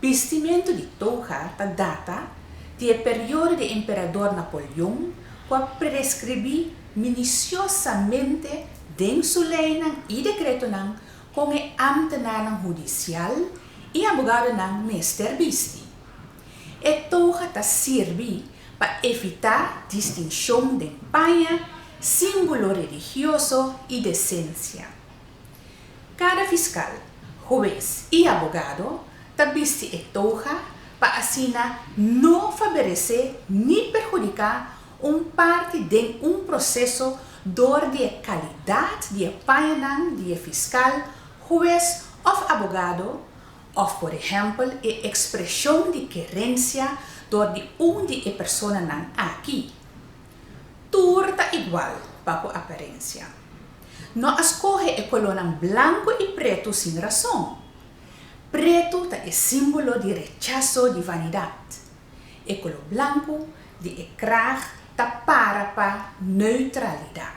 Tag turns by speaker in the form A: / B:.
A: Bistimentu di toga ta data di e periodo di Emperador Napoleon ku a predeskribí minisiosamente den su leinan i dekretonan kon e ámtenarnan hudisial i abogadonan mester bisti. E toga ta sirbi pa evitá distinshon den paña, símbolo religioso i desensia. Kada fiskal, hues i abogado ta bisti e toga pa asina no faberesé ni perhudiká un parti den un proseso dor di e kalidat di e pañanan di e fiskal, hues òf abogado òf por ehèmpel e ekspreshon di kerensia dor di un di e personanan aki. Tur ta igual pa ku aparensia. No a scoge e colornan blanco y preto sin razon. Preto ta e simbolo di rechazo di vanidad. E color blanco di e kraag ta para pa neutralidad.